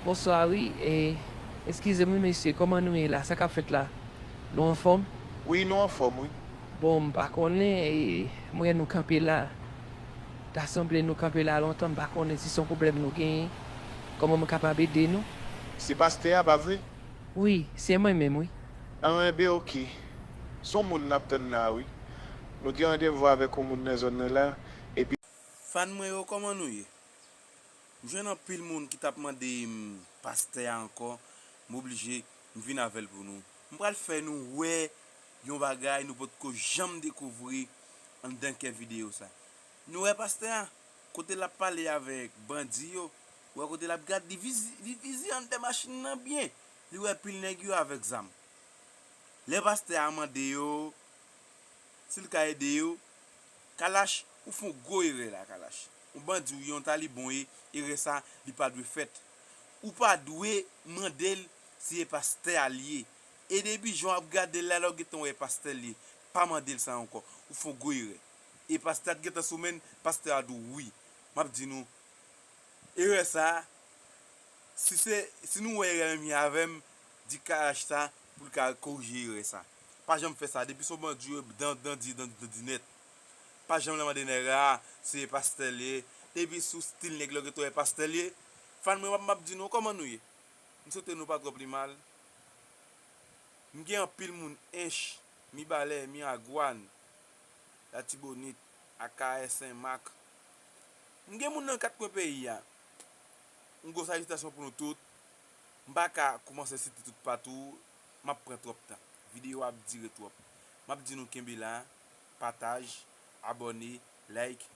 Bonswa wi e eskize m wi mesye kòman nou ye la sa kap fèt la nou anfòm? Wi nou anfòm wi. Bon m pa konnen e m wè nou kanpe la ta sanble nou kanpe la lontan m pa konnen si son pwoblèm nou genyen kòman m kapab ede nou? Se pastè a pa vre? Wi se mwen menm wi. An enben ok. Son moun nap tann la wi. Nou gen randevou avèk yon moun nan zòn nan la epi. Fan mwen yo kòman nou ye? M jwenn anpil moun ki tap mande m pastè a ankò m oblije m vin avèl pou nou. M pral fè nou wè yon bagay nou potko janm dekouvri anndan kè videyo sa. Nou wè pastè a? Kote lap pale avèk bandi yo Ou wè kote lap gad li li vize anndan machin nan byen li wè pil nèg yo avèk zam lè pastè a mande yo sil ka ede yo Kalash ou fon gwo erè la Kalash on bandi ou ye on talibon ou ye erè sa li pa dwe fèt ou pa dwe mandel si e pastè a li ye e depi jan wap gadel la lè ou gentan wè e pastè li ye pa mandel sa ankò ou fon gwo erè e pastè a t gentan sou menn pastè a di w wi map di nou Erè sa, si se, si nou wè erè menm jan avèm, di Karash sa poul ka korije erè sa. Pa janm fè sa, depi son bandi ou ye dan dan di dan dan di nèt. Pa janm la mande nèg la, se pastè liye, depi sou stil nèg la ou gentan wè pastè liye. Fan mwen wap map di nou kòman nou ye? M swete nou pa twò pi mal. M gen anpil moun Ench, Mibalè, Miragwàn, Latibonit, Akayè, Senmak. M gen moun nan kat kwen peyi a. Yon gwo salitasyon pou nou tout. M pa ka koumanse site tout patou, m ap pran twòp tan. Videyo a ap dire twòp. M ap di nou kenbe la, pataj, abòne, like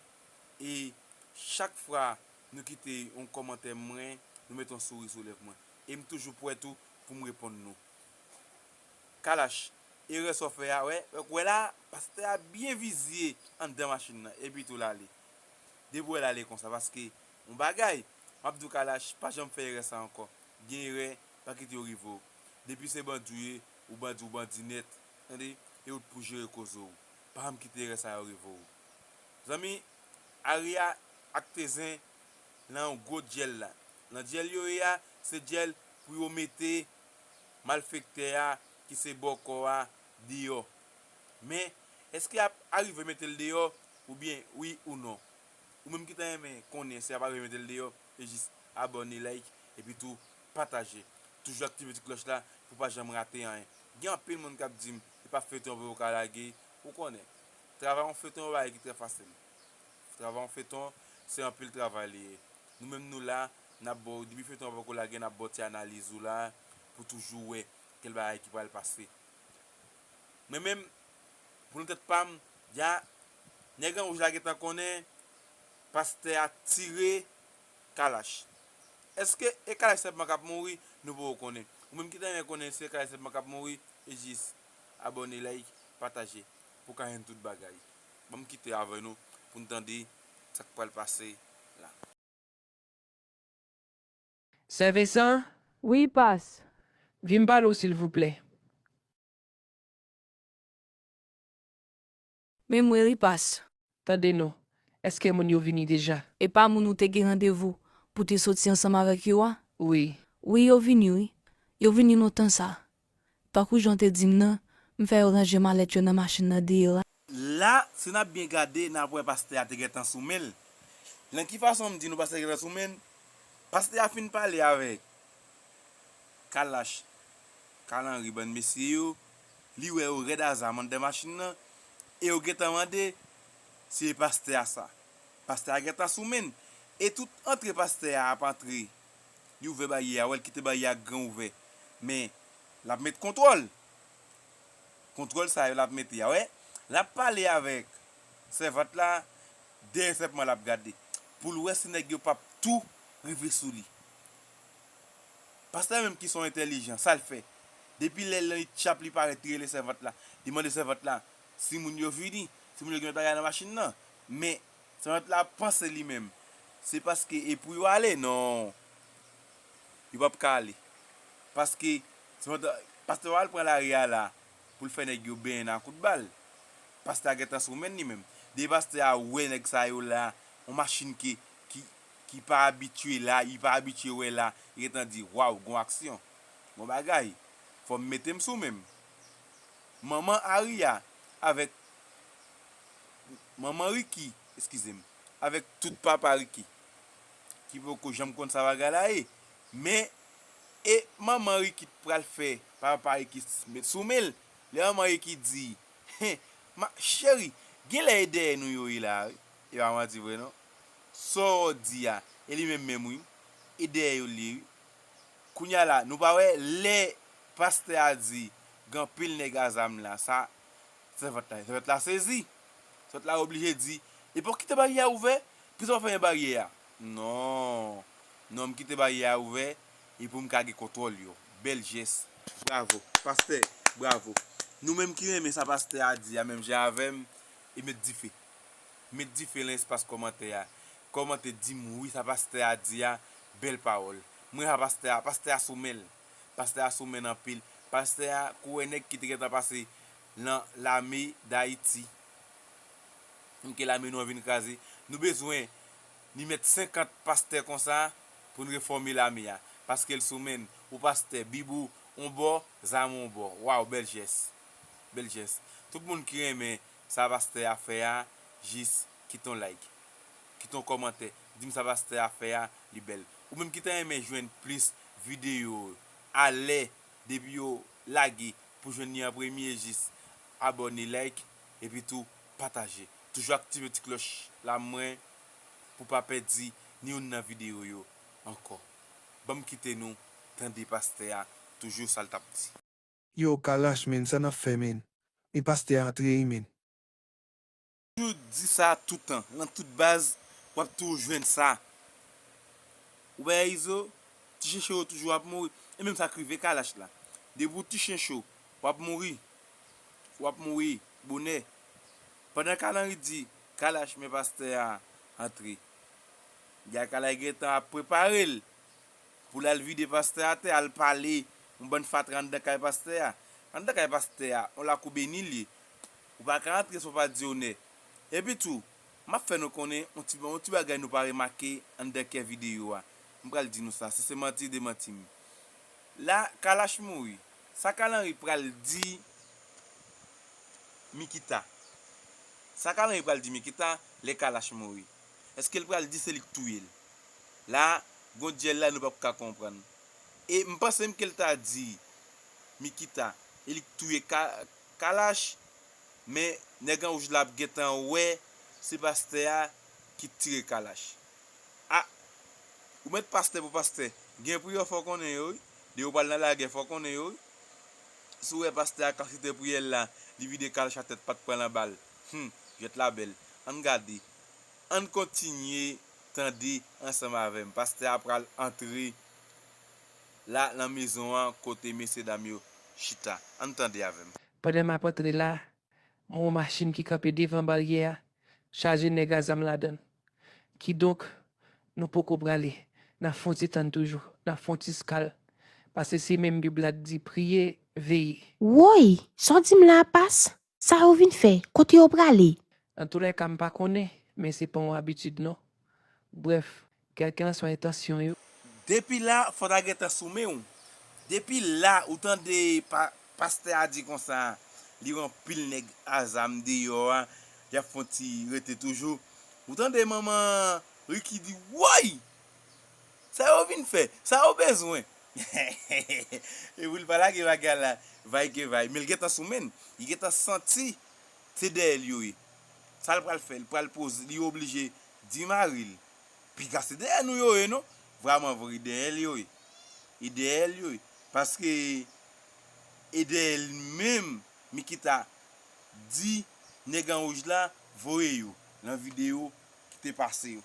e chak fwa nou kite yon kòmantè mwen, nou mete yon souri sou lèv mwen. E m toujou pwè tou pou m reponn nou. Kalash, erè sa w fè a, wè, wè la, pastè a byen vizye anndan machin nan, epi tou l ale. depi wèl ale konsa paske yon bagay map diw kalash pa janm fè erè sa ankò gen erè pa kite yo rive w depi se bandi w ye ou bandi ou bandi nèt tande e ou t pou jere koze w pa janm kite erè sa yo rive w zanmi Aria ak Tezen nan yon gwo dyèl la nan dyèl yo ye a se dyèl pou yo mete malfektè a ki se bòkò a deyò Men, èske y ap arive mete l deyò? Oubyen, wi ou non? Ou menm ki ta renmen konnen si y ap arive mete l deyò, e jis abòne, like, epi tou pataje. Toujou aktive ti klòch la pou w pa janm rate anyen. Gen anpil moun k ap di m, e pa feyton vre ou ka lage? Ou konnen, travay yon feyton yon bagay ki trè fasil. Travay yon feyton, se anpil travay li ye. Nou menm nou la, n ap ba w, depi feyton an poko lage, n ap ba w ti analiz ou la pou toujou wè kèl bagay ki pral pase. Mwen menm pou nan tèt pam ya nèg an wouj la gentan konnen pastè a tire kalach eske e kalach senpman kap mouri nou poko konnen ou menm ki ta renmen konnen se kalach senpman kap mouri jis abòne like pataje pou ka jwenn tout bagay banm kite avè nou poun tande sak pral pase la. Sè Vensan? Wi, pas. Vin m pale w silvouplè. Men mwen ri pas. Tande non. Eske moun yo vini deja? E pa moun ou te gen randevou pou te soti ansanm avèk yo a? Wi. Wi yo vini wi. Yo vini lontan sa. Tankou jan w te di m nan, m fè yo ranje malèt yo nan machin nan deyò a. La, si n ap byen gade, n ap wè pastè a te gentan sou men l. Nan ki fason m di nou pastè a te gentan sou men l? Pastè a fin pale avèk Kalash, Carl Henry, bann mesye yo, li wè yo rèd aza anndan machin nan, e yo gentan mande, Se pastè a sa? Pastè a gentan sou men l. E tout antre pastè a ap antre Li ouvè baryè a wè l kite baryè a gran ouvè men lap met kontwòl kontwòl sa yo lap mete a wè lap pale avèk sèvant la dèyè sèpman lap gade poul wè si nèg yo pap tou rive sou li pastè menm ki son entèlijan sal fè depi lè nan itchap li parèt li rele sèvant la li mande sèvant la si moun yo vini si moun yo gen lòt bagay nan machin nan men. Servant la ap panse li menm. Se paske e pou yo ale non yo pap ka ale paske servant la pastè pa al pran lari a la poul fè nèg yo benyen nan a kout bal pastè a gentan sou menn li menm depi pastè a wè nèg sa yo la yon machin ke ki ki pa abitye la li pa abitye wè la li gentan di waw gon aksyon gon bagay fòm metem sou menm manman Aria avèk manman Ricky, eskize m, avèk tout papa Ricky ki poko janm konn sa bagay la ye, men e manman Ricky t pral fè papa Ricky met sou men l, lè manman Ricky di, hen, ma cheri, genlè e dèyè nou yo ye la a wi, e pa manti vre non, sa w di a, e li menm menm wi, e dèyè yo l ye wi, kounya la nou pa wè lè pastè a di gen anpil nèg a zam la sa, Sèvant la sèvant la sezi. Sèvant la oblije di, Epi w kite baryè a ouvè, poukisa w pa fèmen baryè a? Non, non m kite baryè a ouvè e pou m ka gen kontwòl yo. Bèl jès. Bravo. Pastè, bravo. Nou menm ki renmen sa pastè a di a menm jan avè m, e met dife. Met dife lan espas kòmantè a. Kòmante di m wi sa pastè a di a, bèl pawòl. Mwen renmen sa pastè a, pastè a sou men l. Pastè a sou menn anpil. Pastè a kouwè nèg ki te gentan pase lan lame dayiti. M ke lame nou an vin kraze. Nou bezwen ni mèt 50 pastè konsa pou n refòme lame a. Paske l sou menn. Ou pastè, bib ou on bò, zam ou on bò. Waw bèl jès. Bèl jès. Tout moun ki renmen sa pastè a fè a jis kite on like. Kite on kòmantè. Di m sa pastè a fè a li bèl. Ou menm ki ta renmen jwenn plis videyo alè depi yo lage pou jwenn li an premye jis abòne like epi tou pataje toujou aktive ti klòch la mwen pou pa pèdi ni youn nan videyo yo ankò banm kite nou tande pastè a toujou sal tap di. Yow kalash menn sa nap fè menn men pastè a antre wi menn. toujou di sa toutan nan tout baz wap toujou jwenn sa ou bay izo ti chen cho yo toujou ap mouri e menm sak rive kalash la depi ou ti chen cho wap mouri wap mouri bonè pandan kalanri di kalash men pastè a antre gade kalash gentan ap preparel poul al vide pastè atè al pale yon bann fatra andan kay pastè a andan kay pastè a yon lakou beni liye. Ou pa ka antre san w pa di onè. Epi tou, m ap fè nou konnen yon ti yon ti bagay nou pa remake anndan kè videyo a. M pral di nou sa, si se manti, demanti m. La Kalash mouri, sa Carl Henry pral di Mikita? Sa Carl Henry pral di Mikita lè Kalash mouri? Èske l pral di se li k touye l? La a, gon dyèl la nou p ap ka konprann. E m panse m ke l ta di Mikita e li k touye Ka, Kalash men nèg anwouj la ap gentan wè se pastè a ki t tire kalash ah ou met pastè pou pastè gen priyè fòw konnen yo wi depi ou pral nan lagè fòw konnen yo wi si w wè pastè a kap site priyè l la li vide kalash a tèt pat pran lan bal humm jwèt la bèl ann gade ann kontinye tande ansanm avèm pastè a pral antre. la lan mezon an kote mesye dam yo chita. Ann tande avè m. Pandan m ap antre la, m wè yon machin ki kanpe devan baryè a, chaje nèg a zam ladan l. Kidonk, nou poko prale, n ap fè yon ti tann toujou, n ap fè yon ti skal, pase se menm Bib la k di, Priye, veye. Woy! Sa w di m la a pas? Sa yo vin fè? Kote yo prale? Nan tou lè ka m pa konnen, men se pa yon abitid non. Brèf, kèlkelanswa entansyon yo. Depi la fò ta gentan sou men w. Depi la ou tande pa pastè a di konsa li wè anpil nèg a zam deyò a y ap fon ti rete toujou. Ou tande manman Ricky di woy! Sa yo vin fè, sa yo bezwen. E pou li pa lage bagay la vay ke vay. Men li gentan sou menn. Li gentan santi se dèyè l yo ye. Sa l pral fè? Li pral poze, li oblije di mari l, Piga se dèyè nou yo ye non. Vrèmanvre e dèyè l yo ye. E dèyè l yo ye. Paske e dèyè l menm Mikita di nèg an wouj la voye yo nan videyo ki te pase yo.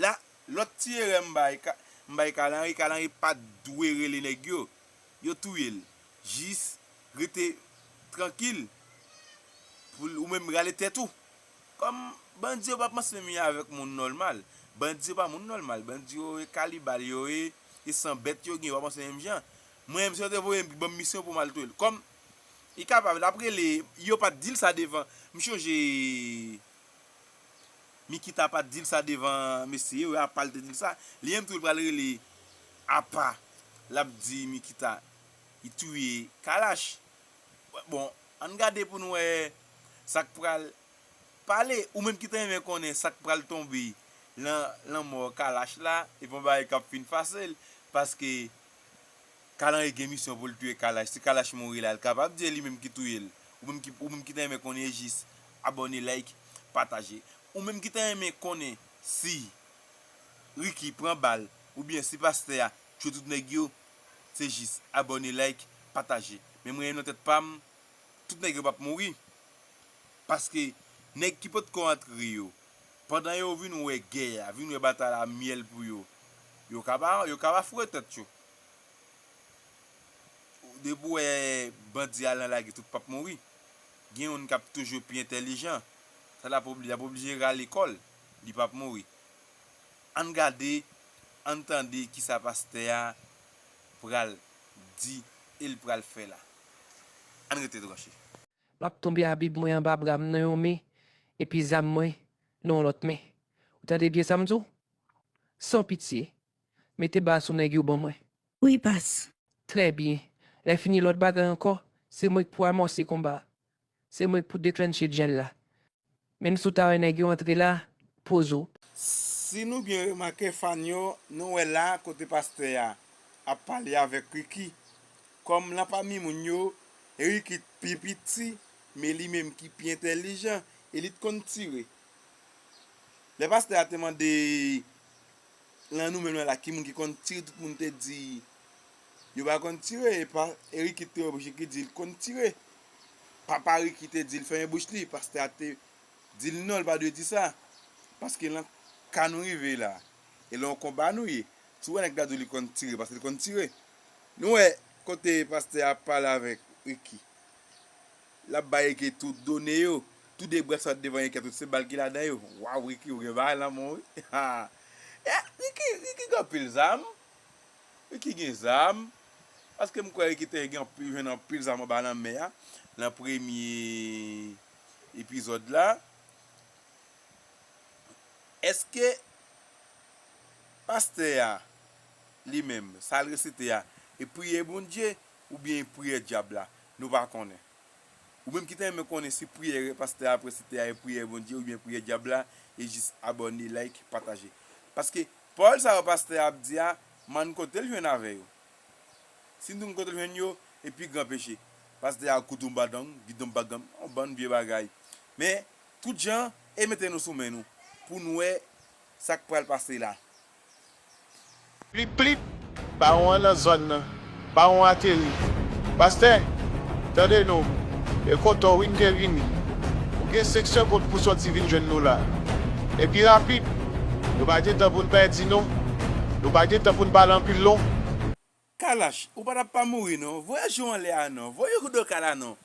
La, lòt ti erè m bay, m bay Carl Henry, Carl Henry pa t dwe rele nèg yo. Yo touye l. Jis rete trankil pou l ou menm rale tèt ou. Kòm bandi yo pa panse menm yo avèk moun nòlmal. Bandi yo pa moun nòlmal. Bandi yo e kanibal yo ye, e san bèt yo gen. Yo pa panse menm jan. Mwen menm si yo te voye m, ki ban m misyon pou m al touye l. Kòm li kapab, l ap rele, yo pa t di l sa devan. M chonje Mikita pat dil sa devan mesye yo apal te dil sa li menm tou li pral rele apa lap di mikita li touye kalash bon ann gade pou nou wè sak pral pale ou menm ki ta renmen konnen sak pral tonbe lan lanmò kalash la epi yon bagay kap fin fasel paske. Kalanri gen misyon poul touye kalash si kalash mouri la kapab di e li menm ki touyel ou menm ki ou menm ki ta renmen konnen e jis abòne like pataje ou menm ki ta renmen konnen si Ricky pran bal oubyen si pastè a tchwe tout nèg yo se jis abòne like pataje men mwen nan tèt pam tout nèg yo pap mouri paske nèg ki potko antre yo pandan yo vin wè gè a vin wè batay la myèl pou yo yo ka pa yo ka pa foure tèt yo Depi ou wè bandi al nan lage tout pap mouri. Gen youn kap toujou pi entèlijan. Sa lap oblije, lap oblije rale kòl. Li pap mouri. Ann gade, ann tande kisa pastè a pral di el pral fè la. Ann rete branche. Map tonbe a bib mwen anba bram nan yon men epi zam mwen nan yon lòt men ou tande byen sam diw san pitye Mete bas ou nèg yo ban mwen. Wi bas. Trè byen. Lè fini lòt bagay ankò, se mwen k pou amòse konba a. Se mwen k pou deklennche dyèl la. Menm si w ta wè nèg yo antre la, poze w. Si nou byen remake fann yo, nou wè la kote pastè a ap pale avèk Ricky. Kòm lan pami moun yo, Ricky t pi piti, men li menm ki pi entèlijan e li t konn tire. Lè pastè a te mande. Lan nou menm la ki moun ki konn tire tout moun te di yo pa konn tire epa Eric ki t te oblije ki dil t konn tire papa Ricky te dil fèmen bouch li pastè a te dil non li pa dwe di sa paske lan ka nou rive la e lan yon konba nou ye si w wè nèg la di w li konn tire paske l konn tire nou wè kote pastè a pale avèk Ricky L ap bay Ricky tout done yo. Tou de bras yo devan Ricky a tout se bal ki ladan yo. Waw Ricky ou gen bagay lanmou wi haa eh Ricky Ricky gen anpil zam Ricky gen zam paske m kwè Ricky te gen anpil jwenn anpil zam anba lanmè a nan premye epizòd la èske pastè a li menm sa l resite a e priyè Bondye oubyen e priyè dyab la. Nou pa konnen. Ou menm ki ta renmen konnen si priyè pastè a presite a e priyè Bondye oubyen priyè dyab la e jis abòne like pataje paske pawòl sa yo pastè a ap di a m'en kotel jwenn avè yo si nou t konn kotel jwenn yo e pi gran peche pastè a koudon badang gidon bagam yon bann vye bagay men tout jan e mete nou sou men nou pou nou wè sak pral pase la. Plip plip! Bawon an nan zòn nan. Bawon ateri. Pastè, tande nou. E kontan w wi m te vini. Ou gen senk segond pou w sòti vin jwenn nou la. E pi rapid. Nou pa gen tan pou n pèdi non. Nou pa gen tan pou n pale anpil non. Kalash ou pa tap pa mouri non voyaj yo anlè a non voye ou doka la non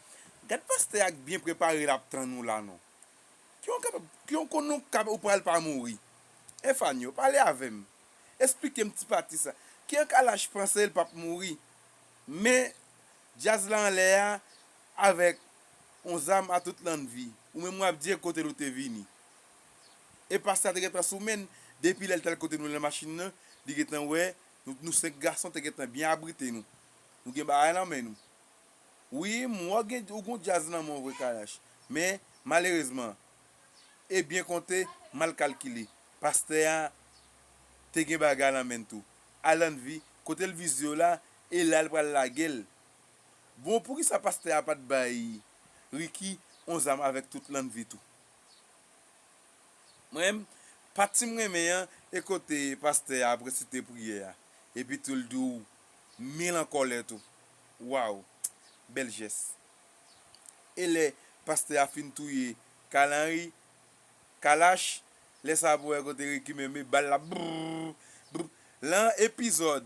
gad pastè a k byen prepare lap tann ou la non ki yon kapab ki yon kon nou kab ou pral pa mouri Efanio pale avèm esplikem ti pati sa ki an kalash panse l pap mouri men djaz la anlè a avèk yon zam a tout lannvi ou menm wap di e kotel ou te vini e pastè a te gentan sou menn depi lèl tal kote nou nan machin nan li gentan wè Nou nou 5 gason te gentan byen abrite nou. Nou gen bagay nan men nou. Wi m wè w gen ou gen yon djaz nan men w vre Kalash. Men malerezman e byen konte mal kalkile pastè a te gen bagay nan men l tou. Alannvi kote l vize w la e la l pral lage l. Bon poukisa pastè a pa t bay Ricky yon zam avèk tout Lannvi tou. Mwen menm, pati m renmen an e kote pastè a ap resite priyè a epi tou l di w mil an kòlè tou. Waww! Bèl jès. E lè pastè a fin touye Carl Henry, Kalash, lè sa a pou wè kote Ricky menm e bal la brrrr brrrr. Lan epizòd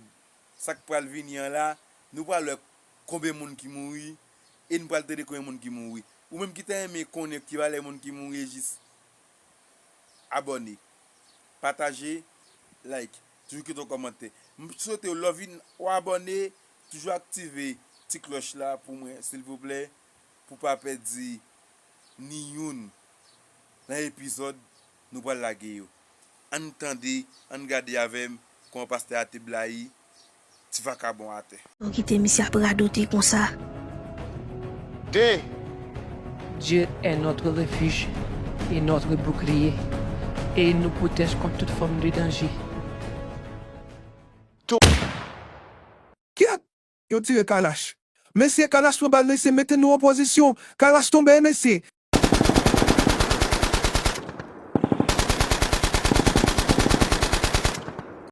sa k pral vini an la, nou pral wè konbe moun ki mouri e n pral tande konbyen moun ki mouri. Ou menm ki ta renmen konnen ki valè moun ki mouri jis abòne, pataje, like, toujou kite yon kòmantè. M swete w lè w vin w abòne toujou aktive ti klòch la pou mwen silvouplè pou w pa pèdi ni youn nan epizòd nou pral lage yo. An n tande, an n gade avè m kòman pastè a te blayi. ti vakabon atè. Bon kite misye ap radote konsa. Dé! Dieu est notre refuge et notre bouclier et il nous protège contre toute forme de danger. Kyèt! Yo tire Kalash. Mesye Kalash pran bal mesye mete nou an pozisyon. Kalash tonbe e mesye.